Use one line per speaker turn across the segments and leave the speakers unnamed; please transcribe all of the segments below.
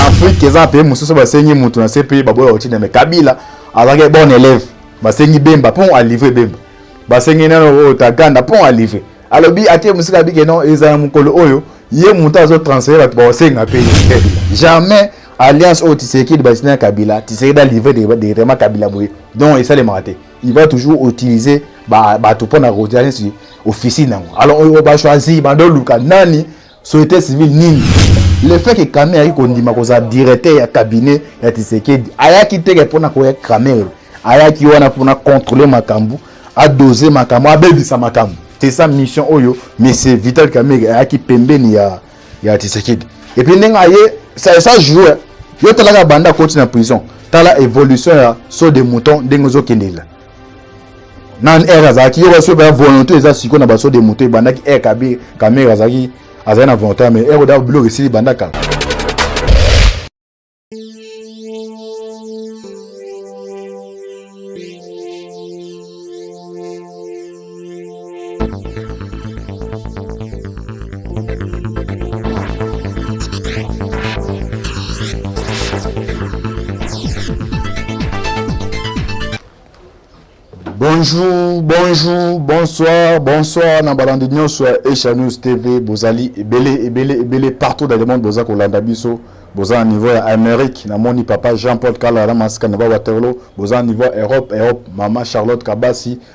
Afrique eza pays mosusu basengi moto na CPI baboya kotinda me Kabila azalaki bon élève basengi Bemba mpo alivre Bemba basengi nano oyo Taganda mpo alivre alobi atie mosika abike non ezala mokolo oyo ye moto azo transfere bato baosenga mpe jamais alliance oyo tisekedi batina ya kabila tisekedi alivre directement kabila boye donc esalemaka te il va toujours utiliser bato mpo na kotia neti officine yango alors oyo bachoisi bandoluka nani société civile nini le fait que Kamerhe ayaki kondima kozala directeur ya cabinet ya Tshisekedi ayaki teke mpona koya Kamerhe ayaki wana mpona contrôler makambo adose makambo abebisa makambo c'est ça mission oyo monsieur Vital Kamerhe ayaki pembeni ya ya Tshisekedi et puis ndenge aye ça ça joue yo talaka banda akoti na prison tala évolution ya saut de mouton ndenge ozokendelela nan air azalaki yo basi oyo volonté eza siko na baso de moto ebandaki air kabi kamera azalaki azali na volonté mais air oda biloko esili banda kala bonjour bonjour bonsoir bonsoir na balandi nyonso ya asia news tv bozali ebele ebele ebele partout dans le monde boza kolanda biso boza na niveau ya amérique namoni papa jean paul kalala na masika na ba waterlo boza na niveau ya europe europe mama charlotte kabasi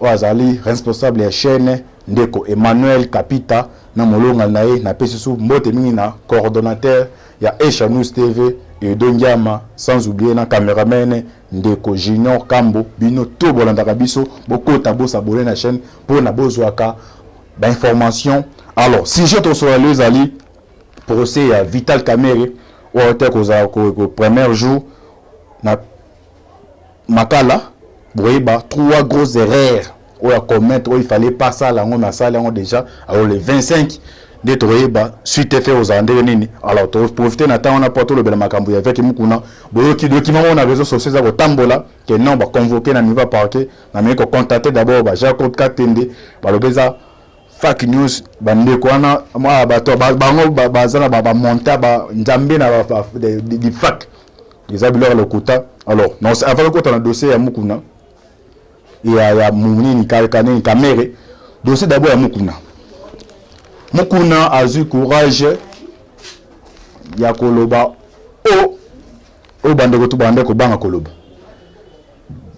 Oyo azali responsable ya chaine ndeko Emmanuel Kapita na molonga na ye. Napesi su mbote mingi na coordonateur ya Esha News TV Edo Ngiama sans oublier na cameraman ndeko Junior Kambo. Bino tout bolandaka biso bokota bo s'abonner na chaine pona bozwaka ba information. Alors sujet tosolola lelo ezali procès ya Vital Kamerhe oyo te kozala ko première jour na Makala bokoyeba trois gros erreurs oyo a commettre oyo il fallait pas sala yango mais asali yango deja alors le 25 nde tokoyeba suite fe ozala ndenge nini alors to profiter na temps wana po tolobela makambo ya veki mukuna boyoki doki moko na réseaux sociaux eza kotambola que non ba convoquer na niveau parquet na meko contacter d'abord ba Jacob Katende balobeza fake news bandeko wana bato bango baza na ba monta ba nzambe na ba fake eza biloko ya lokuta alors non avant kokota na dossier ya mukuna ya ya munini kanini kamere dossier d'abord ya mukuna mukuna azwi courage ya koloba o oyo bandeko to banda kobanga koloba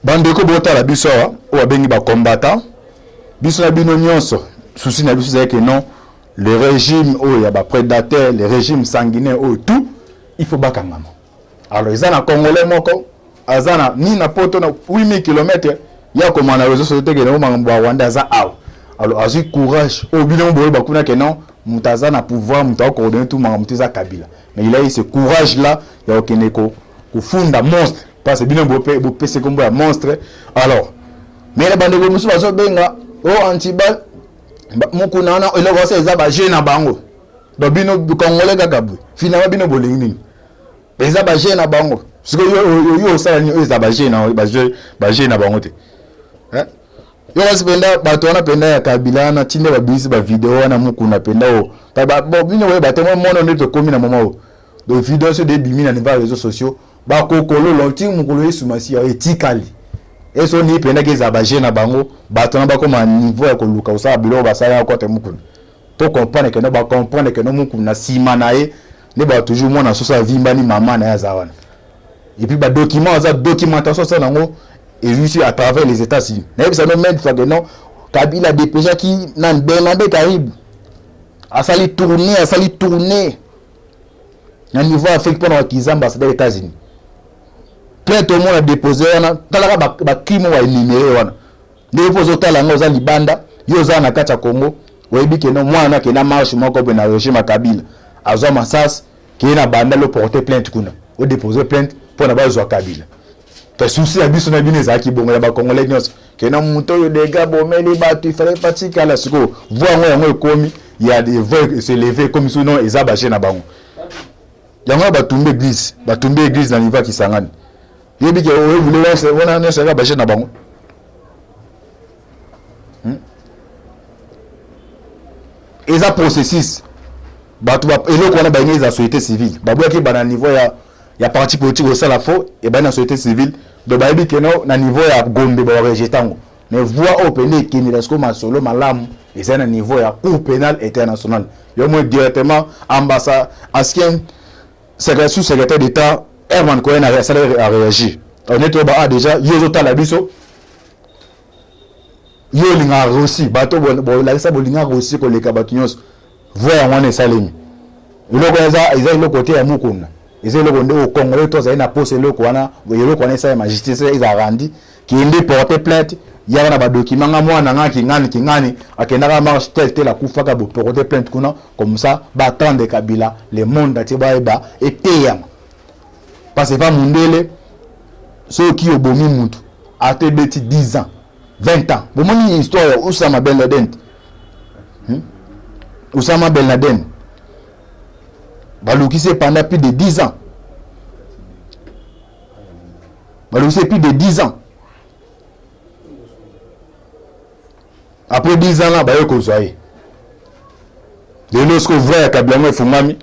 bandeko botala biso awa oyo babengi bakombata biso na bino nyonso susi na biso ezalaki non le régime oyo ya baprédateur le régime sanguinaire oyo tout il faut bakangama alors eza na congolais moko aza na ni na poto na 8000 km ya koma na réseau société ke makambo ba rwanda aza awa alors azwi courage oyo bino mo boyeba kuna ke non moto aza na pouvoir moto akoordonne tout makambo te eza kabila mais il a eu ce courage là ya kokende kofunda monstre parce bino bopesi nkombo ya monstre alors mais na bandeko mosusu bazobenga o oh, antibal mokuna wana eloko ose eza baje na bango donc bino congolais kaka boye finalement bino bolingi nini eza bajeu na bango sikoyo yo osala nini oyo eza bajeu na bajeu na bango te yo kasi mpenza bato wana mpenza ya kabila wana ntina babimisi bavideo wana mokuna mpenza oyo bino boye batemoi mono nde tokomi na moma oyo donc video nyonso debimi na niveau ya réseau sociaux bakokololo nti mokolo yesu masiya etikali eso nii mpendaki ezala baje na bango bato na bakoma niveau ya koluka kosala biloko basalaka kote mokuna To comprendre que no ba comprendre que no muku na sima na ye nde ba toujours mwana soso avimbani mama na ye aza wana. Et puis ba documents aza documentation aza nango et juste à travers les États-Unis. Na yebisa no même fois que non Kabila dépêcha ki na Bernabé Karibu. Asali tourner, asali tourner. Na niveau Afrique pona wakizamba asali les États-Unis. Plainte au monde a déposé wana talaka ba, ba crime wa énuméré wana. ndenge mpo ozotala yango oza libanda yo oza na kati ya congo oyebi keno mwana ke na marche moko boye na regime ya kabila azwa masasi keye na banda loporte plainte kuna odepose plainte mpo na bazwa kabila mpe susi ya biso na bino ezalaki bongo ya bacongolais nyonso kena moto oyo dega bomeli bato ifale patikala sikoyo voi yango yango ekomi ya voi se leve ekomi so non eza baje na bango yango batumbi eglise batumbi eglise na niveau ya kisangani yebi ke oyo bule wana nyonso yaka baje na bango hmm? eza processus bato eloko wana balingi eza société civile baboyaki ebanda na niveau ya, ya parti politique osala fo ebandi na société civile do bayebi ke no na niveau ya gombe babarejete yango mais voix oyo mpenza ekendela sikoyo masolo malamu eza na niveau ya cour pénal international yo moi directement ambassade ancien Secrétaire sous-secrétaire d'État Herman Cohen a réagi. On est trop bas déjà, yo tala biso. Yo linga Russie, bato bo la sa bolinga Russie ko leka bato nyos. Voya ngwana esalemi. Eloko eza eza eloko te ya mukunda. Eza eloko nde au Congolais to azali na poste eloko wana, eloko wana esa ya majesté eza randi Kende porte plainte yaka na ba document nga mwana nga kingani kingani akendaka marche tel tel akufaka bo porte plainte kuna comme ça ba attendre Kabila le monde entier ba eba eteyama parce que pas mundele soki obomi mutu ata ebeti 10 ans 20 ans bomoni histoire ya Osama Ben Laden hmm? Osama Ben Laden balukisi ye pendant plus de 10 ans balongisi ye plus de 10 ans après 10 ans là baye kozwa ye lelo siko vrai ya kabila yango efungami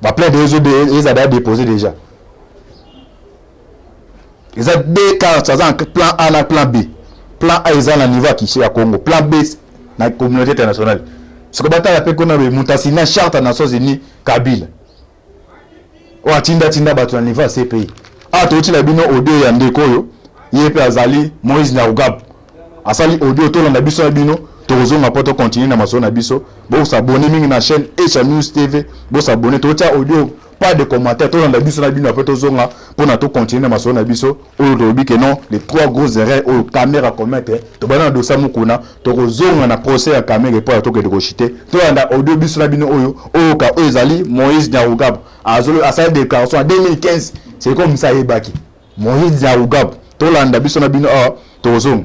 baplainte eza baya dépose déjà eza deux cartes aza na plan a na plan b plan a eza na niveau ya kishi ya congo plan b na communauté internationale siko batala mpe kuna moto asina charte ya nations unis kabila oyo atindatinda bato na niveau ya CPI. Awa tokotyela bino audio ya ndeko oyo ye mpe azali Moïse Nyarugabo asali audio, tolanda biso na bino tokozonga mpo tokontinue na masolo na biso. Bosabone mingi na chaîne Echa News TV, bosabone, totya audio pas de commentaire, tolanda biso na bino apres tozonga mpo na tokontinue na masolo na biso. oyo tolobi ke non les trois grosses erreurs oyo Kamerhe a commettre tobanda na dosa Mukuna tokozonga na procès ya Kamerhe mpo ya tokende kochite toyanda audio biso na bino oyo oyoka oyo ezali Moïse Nyarugabo azolo asali déclaration ya 2015 c'est comme ça ayebaki Moïse Nyarugabo tolanda biso na bino awa ah, tokozonga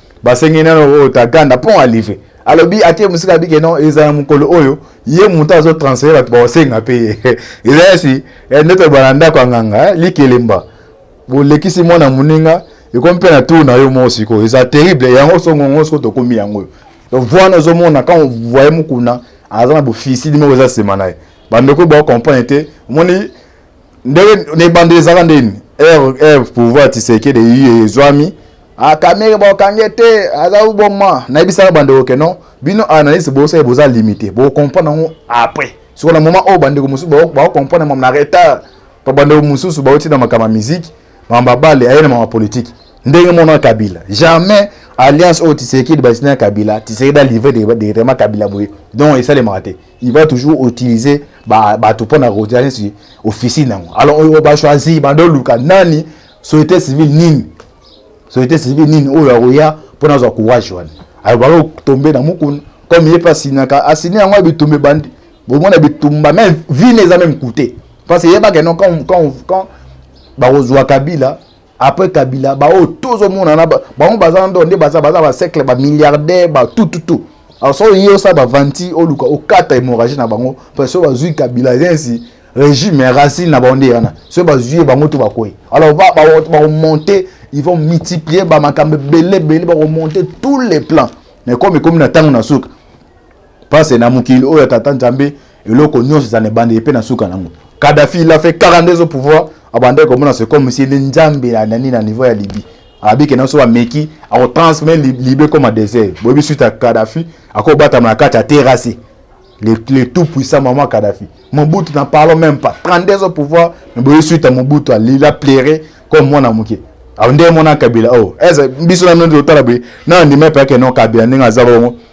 basengi nano oyo oh, taganda mpo alive alobi atie mosika abike no eza ya mokolo oyo ye moto azotransfere bato baosenga mpe ye eza yasi eh, nde toloba na ndako ya nganga eh, likelemba bolekisi mwana moninga ekomi mpe na tour na yo moko sikoyo eza terrible yango songongo sikoyo tokomi yango oyo donc voi wana ozomona quand voye mokuna aza na bofisili moko eza nsima na ye bandeko baocomprendre te omoni ndenge na ebandeli ezalaka nde nini ere pouvoir tisekede iye ezwami akamere ah, baokange te aza oboma nayebisaka bandeko ke non bino analyse bosali boza limité bocomprendre yango après soko na moment oyo bandeko mosusu baocomprendre mama na retard pa bandeko mosusu bauti na makambo ya miziki mama babale aye na mama politike ndenge mona kabila jamais alliance oyo tisekede basina ya kabila tisekede alivre directement kabila boye donc esalemaka te il va toujours utiliser bato mpo na kotia neti officine yango alors oyo bachoisi bando oluka nani société civile nini société civile nini oyo akoya mpo na azwa courage wana alors bakotombe na mokuna comme ye mpe asinaka asini yango ya bitumba ebandi bomona bitumba meme vine eza meme coute parce que yebaka no quand, quand, quand bakozwa kabila après kabila baoyo tozomonana bango baza ndo nde baza baza basekle bamilliardaire batututu alors soki oye osala bavanti oluka okata hémorragie na bango parce soki bazwi kabila esi régime ya racine na bango nde yana soki bazwi ye bango to bakwei alors bakomonte ils vont multiplier bamakambo ebele ebele bakomonte tous les plans mais comme ekomi na ntango na suka Parce na mokili oyo tata Nzambe eloko nyonso ezana ebandeli mpe na suka nango. Kadhafi il a fait 42 au pouvoir abandaki komona c'est comme si nde Nzambe na nani na niveau ya Libye abi ke naso ameki ako transformer Libye comme désert boyebi suite ya Kadhafi akobatama na kati ya terrasse le, le tout puissant maman Kadhafi Mobutu n'en parlons même pas 32 au pouvoir mais boyebi suite ya Mobutu il a plairé comme mwana moke awo nde mona Kabila oh eza biso na ndio tala boye na ndima pe ke non Kabila ndenge aza bongo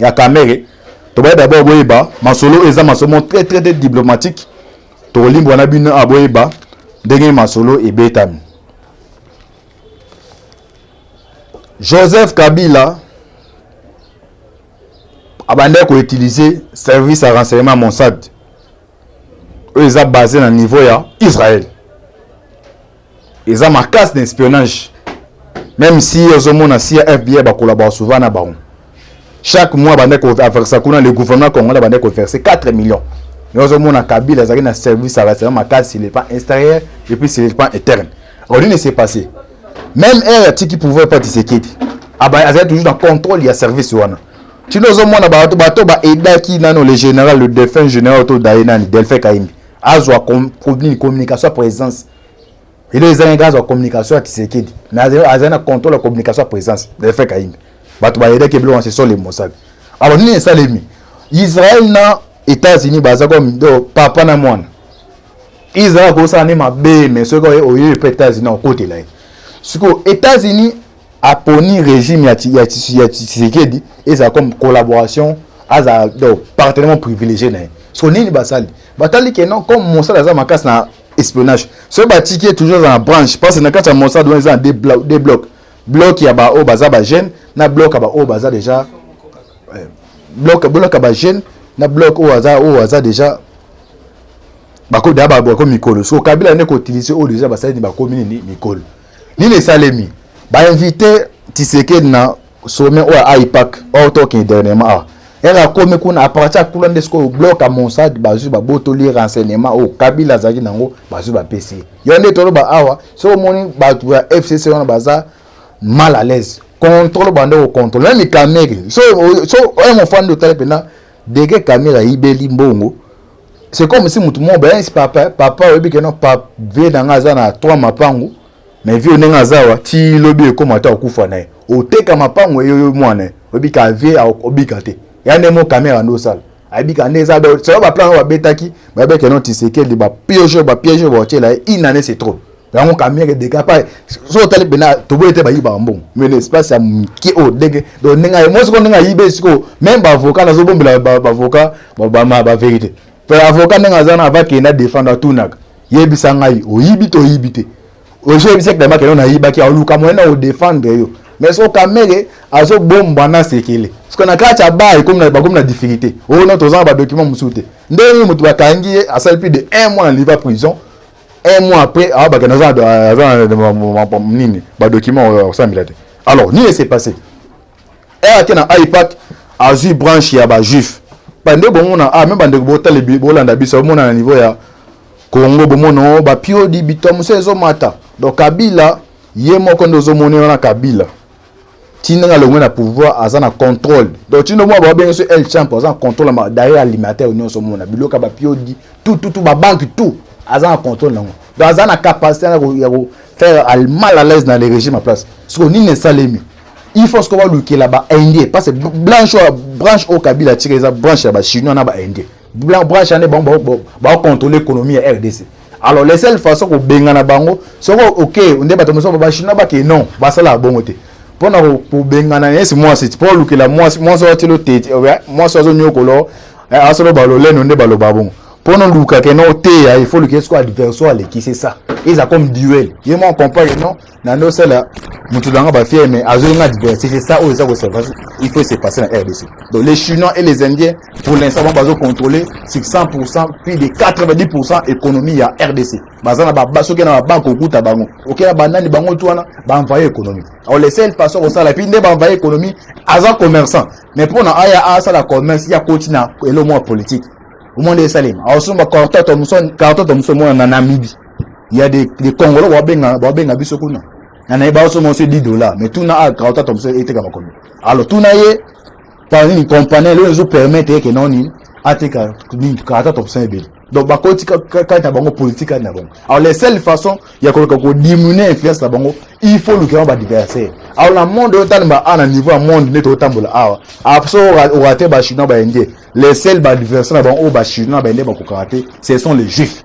ya kamere tobaye dabord boyeba masolo oyo eza masolo moko très très très diplomatique tokolimbwa na bino a boyeba ndenge masolo ebetami joseph kabila abandaki koutilize service ya renseignement monsad oyo eza base na niveau ya israel eza makasi na espionnage même si ozomona si ya fbi bakolabora souvent na bango chaque mois bande koversa kuna le gouvernement congolais bande koverse 4 millions yo ozomona kabila azalaki na service ya rassemblement makasi sur le plan extérieur et puis sur le plan interne alors nini s'est passé même heure atiki pouvoir epa tisekedi azali toujours na contrôle ya service wana tino ozomona bato bato baedaki nano le général le défunt général to daye nani delphin kaimbi azwa communication ya présence elo ezangaki azwa communication ya tisekedi mais azali na contrôle ya communication ya présence delfe kayimbe bato bayedaki biloko na sesole mosali aba nini esalemi israel na états-unis baza komido papa na mwana israel akosala nde mabe mais soki oye epa états-unis akotela ye sikoyo états-unis aponi régime ya, ya, ya tshisekedi ezala comme collaboration azala donc partenairement privilégié na ye so nini basali batali ke non comme mosala aza makasi na espionnage soki batiki ye toujours aza na branche parce que na kati ya mosala wana eza na deux blocs deux blocs bloc ya baoyo baza bajeune na bloc ya baoyo baza déjà eh, bloc bloc ya bajeune na bloc oyo aza oyo aza déjà bakomi mikolo so kabila nde kotilise oyo déjà basali ni bakomi nini mikolo nini esalemi bainvite tisekedi na sommet oyo aipak oyo tokende dernièrement awa ere akomi kuna aparti akula nde sikoyo blok ya monsad bazwi babotoli ye renseignement oyo kabila azalaki nango bazwi bapesi ye yo nde toloba awa soki omoni bato ya fcc wana baza mal à l'aise contrôle bande kocontrôle meme kamere so oye mofandi otali mpena dege kamere ayibeli mbongo c'est comme si mutu moko baye si papa papa oyebi ke non papa vie na nga aza na trois mapangu mais vie ndenge aza wa ti lobi ekoma ata okufa na ye oteka mapangu eyo yo mwana ye oyebi ka vie obika te ya nde mo kamera nde osala abika nde eza selo baplan oyo babetaki bayebi ke non tisekedi bapioge bapioge baotyela ye une année c'est trop yango kamere deka pa soki otali mpena toboyi te bayibaka mbongo mais na espace ya moke oyo ndenge donc ndenge aye moi sikoyo ndenge ayibe sikoyo meme baavocat nazobombela baavocat baverité mpe avocat ndenge aza na avakende adefendre atunaka yebisa ngai oyibi to oyibi te ozo yebisa ekita makende oyo nayibaki aoluka moyen na odefendre yo mais sikoyo kamere azobomba na sekele sikoyo na kati ya bar ekomi bakomi na difficulté oyo oh na tozanga badocument mosusu te ndenge nini moto bakangi ye asali plus de un mois na liva prison un mois après ah, bakenda aza na nini badocument oyo akosambela te alors nini ese passé eye ake na ipac azwi branche ya bajuif bande bomona ah, me bandeko botale bolanda biso bomona na niveau ya congo bomona oh, bapiodi bitwa mosusu ezomata donc kabila ye moko nde ozomoni wana kabila ti ndenge alongwe na pouvoir aza na contrôle donc ti ndomona babenge so el champ aza na contrôle ma derrière alimentaire nyonso omona biloko ya bapiodi tout tout tout babanke tout aza na contrôle nango donc aza na capacité ya kofaire mal à l'aise na le régime ya place siko nini esalemi il faut siko balukela baindien parce que blanche oyo branche oyo kabila atika eza branche ya bachinois na baindien branche ane bango baocontrôle économie ya rdc alors les seules façon kobengana bango soko ok nde bato mosusu bachinois bake non basalaka bongo te mpo na kobengana yesi mwasi mpo olukela mwasi mwasi watilo tete eh, mwasi azonyokolo eh, asoloba loleno nde baloba bongo mpo na olukake no oteya il faut olukela soko adversaire aleki c'est ça eza comme duel ye mwa comprendre non na nde osala moto na nga bafiere mais azongi nga diversité ça oyo eza kosalva il faut se passer na rdc donc les chinois et les indiens pour l'instant bango bazo contrôler 600 pourcent puis de 90 pourcent économie ya rdc baza na baba soki na babanke okuta bango okei na banani bango tu wana baenvaye économie alors le seul façon kosala epuis nde baenvaye économie aza commerçant mais mpo na aya asala commerce ya koti na elo mwa politique omoni esalema aosomba carton to moso mwana na namibie ya de, de congolo babenga babenga biso kuna na naye baoso monse 10 dollars mais tuna a kauta tomse eteka bakomi alors tuna ye par une compagnie lelo ezo permettre ye ke noni ateka nini kauta tomse ebele donc bakoti kati na bango politique kati na bango alors les seules façons ya koluka kodiminue influence na bango il faut lukela badiversaire alors na monde oyo talemba a na niveau ya monde nde totambola awa apso orate bachinois baindien les seuls badiversaire na bango oyo bachinois na baindien bakokaka te ce sont les juifs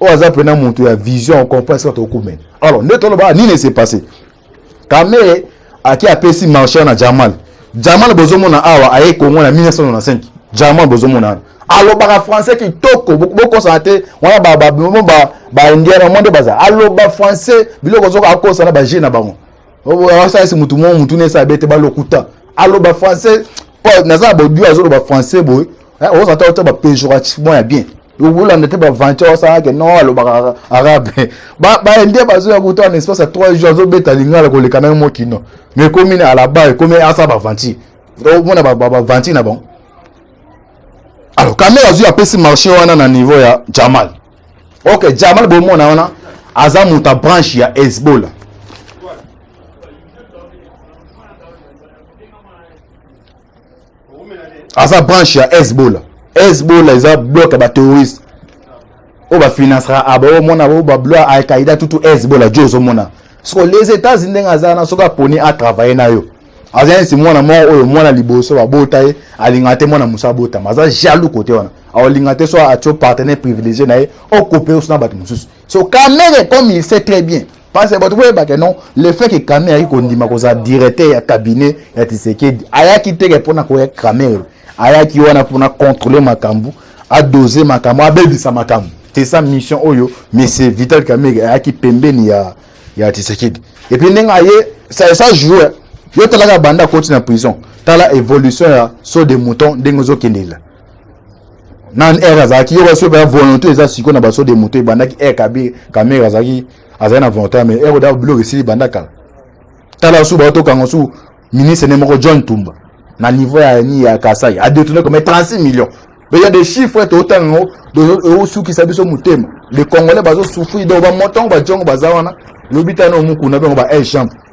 oyo aza mpena moto ya vision ocomprend esika tokumene alors nde tolobaka ah, nini ese passe kamere ake apesi marcheur na jamal jamal bozomona awa aye kongo na 1995 jamal bozomona wana alobaka français kitoko bokosana te wana baindian na mwa nde baza aloba français biloko zoka akosa na baje na bango asalisi motu mo motu na esala bete balokuta aloba français naza na bodio azoloba français boye eh, ozata ota bapejorativement ya bien okolanda te baventure osala ke non alobaka arabe baindien bazoya kuta na espace ya 3 jours azobeta lingala koleka nayo mokino mais ekomi na alaba ekomi asa baventure omona baventure na bango alors kamere azwi apesi marché wana na niveau ya jamal ok jamal bomona wana aza moto ya branche ya hezbola aza branche ya hezbola hezbola eza bloke ya baterroriste oyo bafinancera aba ah, omona bo bablo ya alkaïda tutu hezbola jo ozomona soko les états-unis ndenge aza na soki aponi atravaille na yo aza neti mwana moko oyo mwana liboso babota ye alingaka te mwana mosusu abotama aza jaloux kote wana aolinga te so atio partenaire privilégié na ye okope oso na bato mosusu so kamere comme il sait très bien Parce que bato boyeba ke non le fait que Kamerhe ayaki kondima kozala directeur ya cabinet ya Tshisekedi ayaki te ke mpo na koya Kamerhe ayaki wana mpo na contrôler makambo adose makambo abebisa makambo c'est ça mission oyo monsieur Vital Kamerhe ayaki pembeni ya ya Tshisekedi et puis ndenge aye ça ça joue yo talaka banda koti na prison tala évolution ya saut de mouton ndenge ozokendela nan air azalaki yo basi ba volonté eza siko na baso de moto ebandaki air kabi kamera azalaki azali na volonté mais air oda biloko esili banda kala tala su bato kanga su ministre ne moko John Tumba na niveau ya ni ya Kasai a détourné comme 36 millions mais il y a des chiffres to tango de suki sa biso mutema les congolais bazo souffrir donc ba montant ba jongo bazawana lobitano mukuna bango ba air chambre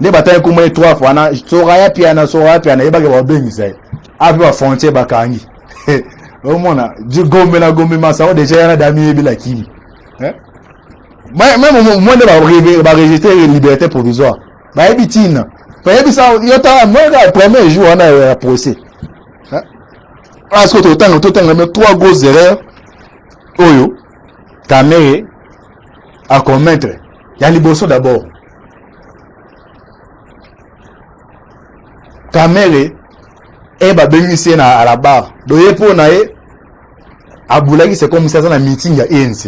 nde batali nkombo ye trois fois na soraya piana soraya piana yebaki babengisa ye ape bafrontier bakangi omona gombe na gombe masao deja yana dami yebila kimi eh? meme moi nde baregistre liberté provisoire bayebi ntina bayebisa yo tala moyeka premier jour wana ya procès parceke totanga totanga me trois gros erreur oyo kamere akomettre ya liboso d'abord kamere e eh, babengisi ye na alabar do ye mpo na ye abulaki se komisi aza na meeting ya enc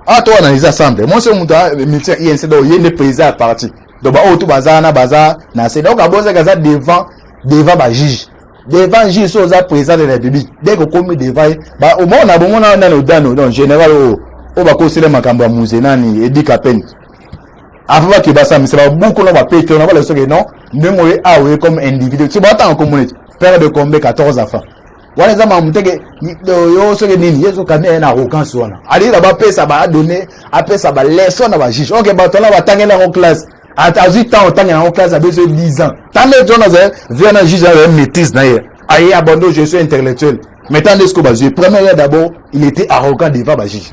ah to analyse ensemble mwasi oyo moto meeting ya enc donc ye nde président ya parti donc baoyo tu baza wana baza na se donc abonzaki aza devant devant bajuge devant juge so oza président de la république dès kokomi devant ye omona bomona nani odano donc général oyo oyo bakosela makambo ya muze nani edika pene avant bake basambisa babuku na bapetro na bala soki non ndenge oye awa oye comme individu so batanga komona ete pere de combe 14 afa wana eza mamu teke yo soki nini yesu kani aye na arrogance wana alingaka bapesa baadone apesa baleson na bajuge oke bato wana batangeli yango classe azwi temps otanga yango classe abeso 10 ans ntango ete wana azali via na juge aye maîtrise na ye aye abando je suis intellectuel mais ntango nde siko bazwi première d'abord il était arrogant devant bajuge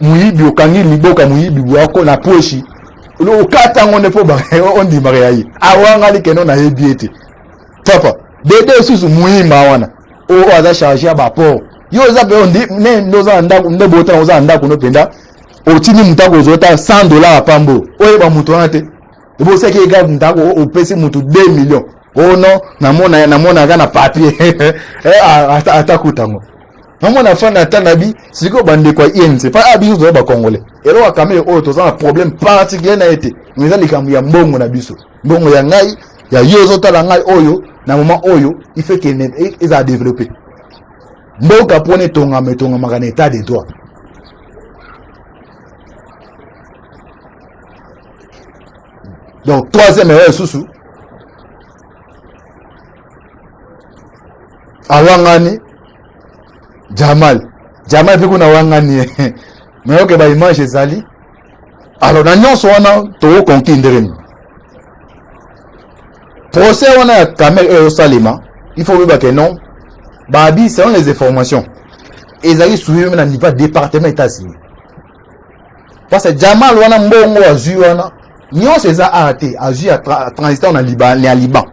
moyibi okangi liboka moyibi bwako na pweshi okata yango nde mpo ondimaka ya ye awanga likeno nayebi ye te papa dede osusu moyima wana oyo aza charge ya baport yo oza mpe ondi ne nde oza na ndako nde botana oza na ndako no mpenza otindi moto akozwa ata 100 dollar ya pambo oyeba moto wana te ebosaki ega ndako opesi moto 2 million ono oh namonaka na papier eh, atakuta yango namona afanda ata na bi sikoyo bandeko ya inc mpa a biso toza bacongolais eloko ya kamere oyo toza na problème particulier na ye te mais eza likambo ya mbongo na biso mbongo ya ngai ya yo ozotala ngai oyo na moment oyo il faut kende e, eza développé mboka mpona etongama etongamaka na état de droit donc troisième erreur lisusu awangani jamal jamal mpe kuna wangani ye nayoke baimage ezali alors na nyonso wana tokokonki ndenge nini procès wana ya kamere oyo ezosalema il faut oyeba ke non babi selon les informations ezali suivi meme na niveau ya département etats-unis parce que jamal wana mbongo azwi wana nyonso eza awa te azwi ya tra, transitant na liban, ya liban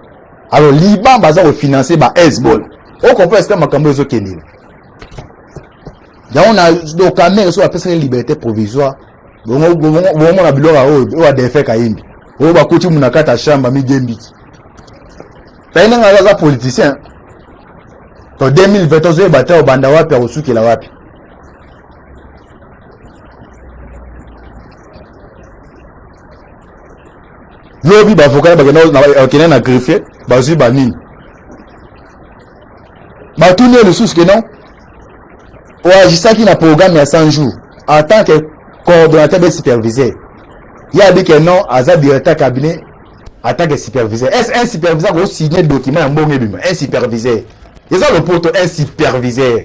alors liban baza kofinanse ba hezbola okomprendre sika makambo ezokendela yango na dokamere soki apesaki liberté provisoire bomona biloko oyo oyo adefe kayembi oyo bakuti muna kati ya chambre amigembiki tayi ndenge aza politicien to 2020 ozoyeba te obanda wapi akosukela wapi lobi bavoka bakenda na greffier bazwi banini batuni ye lisusu ke non oagisaki na programme ya 100 jours en tant que coordonnateur mpe superviseur ye abi ke non aza directeur cabinet en tant que superviseur est ce un superviseur kosigne document ya mbongo ebima un superviseur eza lopoto un superviseur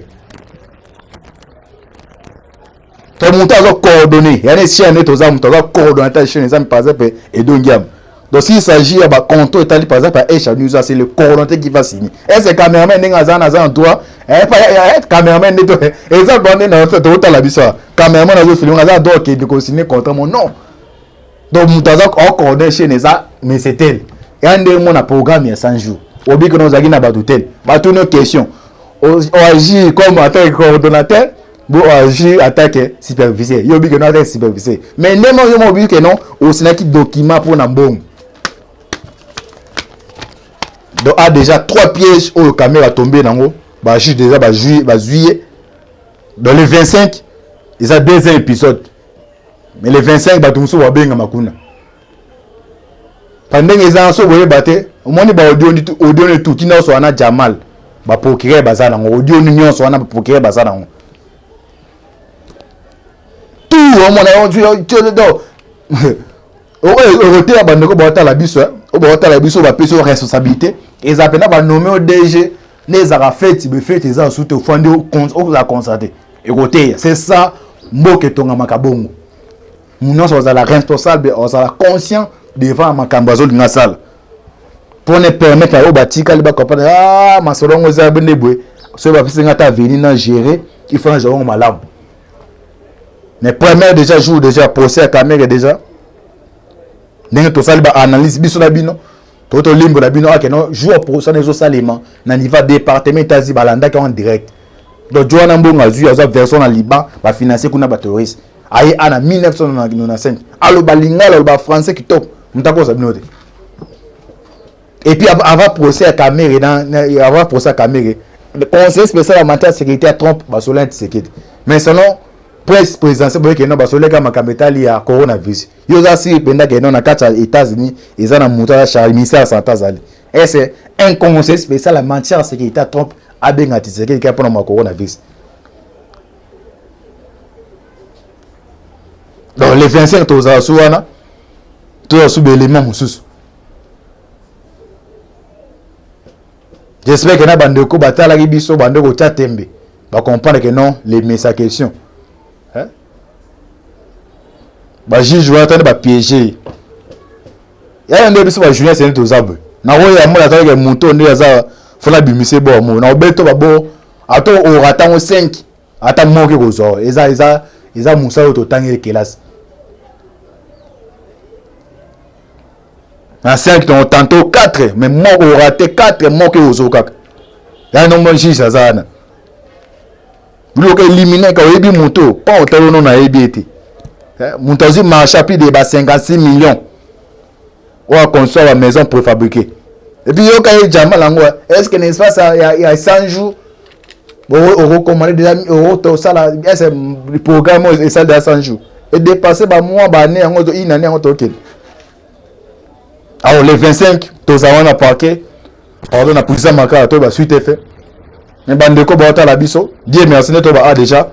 to moto aza coordonné yani chaîne ete oza moto aza coordonnateur chaîne eza par exemple edo ngiama donc s'il s'agit ya baconto etali par exemple ya echa news c'est le coordonnateur qui va signer est ce cameraman ndenge aza na aza na droit cameraman nde eza bande na totala biso cameraman azofilme aza na droit okende kosigne contrat mo non donc moto aza ocoordonne chaine eza mesetel ya ndenge mona programme ya 100 jours obiki na ozalaki na bato tel bato no question oagir comme attaque coordonnateur bo oagir attaque superviseur yo obiki no attaque superviseur mais nde mo yo mo obiki no osinaki document mpo na mbongo donc a déjà trois pièges oyo kamera tombe nango bajuge déjà bazwi ye dans le 25 eza deuxième épisode mais le 25 bato mosusu babengama kuna pa ndenge eza so boyeba te omoni baaudio neti ti nyonso wana jamal baprocureur baza nango audio nyonso wana baprocureur baza nango tu omona okoteya bandeko baotala biso oyo baotala biso bapesi yo responsabilité eza mpena banome o dg nde ezalaka feti be feti eza lisusu te ofandi okozala constate ekoteya c'est ça mboka etongamaka bongo nyonso ozala responsable ozala conscient devant makambo azolinga asala mpo na permettre na yo batikali bakompane ah, masolo yango eza nde boye soki bapesi nga ata veni na gérer il faut na jango malamu mais première déjà jour déjà procès ya kamere déjà ndenge tosali baanalyse biso na bino to tolimbwela bino ake no jour prosana ezosalema na niveau ya département etazi balandaki en direct donc jo wana mbongo azwi azwa version na liban bafinancie kuna baterroriste aye ana 1995 aloba lingala aloba français kitoko moto akosa bino te epuis avant procès ya kamere avant procès ya kamere conseiller spécial ya matière sécurité ya trump basolaki tisekedi mais selon presse présidentielle boyekena basoleka makambo etali ya coronavirus yo oza siri mpenza ke no na kati ya états-unis eza na moto aza charge ministère ya santé azali ese un conseil spécial ya matière seke eta trump abenga tisekeli kaka mpona ma coronavirus donc le 25 tozala su wana tozala su baélément mosusu j'espère ke na bandeko batalaki biso bande kotya tembe bacomprendre ke non lemesa question ba juge wana tani ba piéger yaya nde biso ba journaliste nde toza boye na oyo ya mona atalaka moto nde aza fona bimise bo mo na obeto babo ata ora ntango 5 ata moke kozwa eza eza eza mosala oyo totangeli kelasi na 5 tongo tanto 4 mais moko orate 4 moke ozokaka ya nombo juge aza wana Loka elimine ka oyebi moto oyo mpo otali ono nayebi ye te eh, moto azwi marché apli de ba 56 millions oyo aconstruire ba maison préfabriqué epuis yoka ye jamba nango eh. est ce que na espace ya, ya 100 jours okokomande deja okosala ese programme oyo esali deja 100 jours edepasse bamois baannée yango une année yango tokende Alors le 25 toza wana parquet pardon na puisa makala to ba suite effet mais bandeko baotala biso die merci nde toba a déjà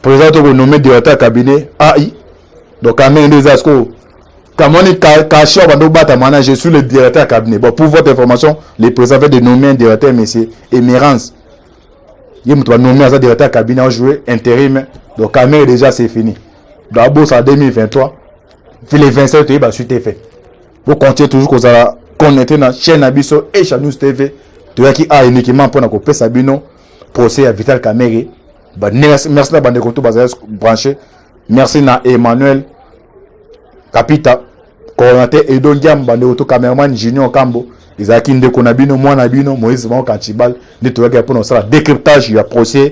président tokonome directeur ya cabinet ai donc amene nde eza sikoyo kamoni kashi oyo bando obatama na je suis le directeur ya cabinet bon pour votre information le président fait de nommer un directeur monsieur emerance ye moto banome aza directeur ya cabinet ajoue intérim donc kamere déjà c'est fini donc abosa 2023 c'est le 27 toyeba suite efe bocontinue toujours kozala connecte na chaîne na biso esha news tv toyaki a uniquement mpo na kopesa bino procès ya vital kamere merci na bandeko to bazali branche merci na emmanuel kapita coordinateur edo ndiam bandeko to cameraman junior kambo ezalaki ndeko na bino mwana na bino moïse bango kantibal nde toyaki mpo na kosala décryptage ya procès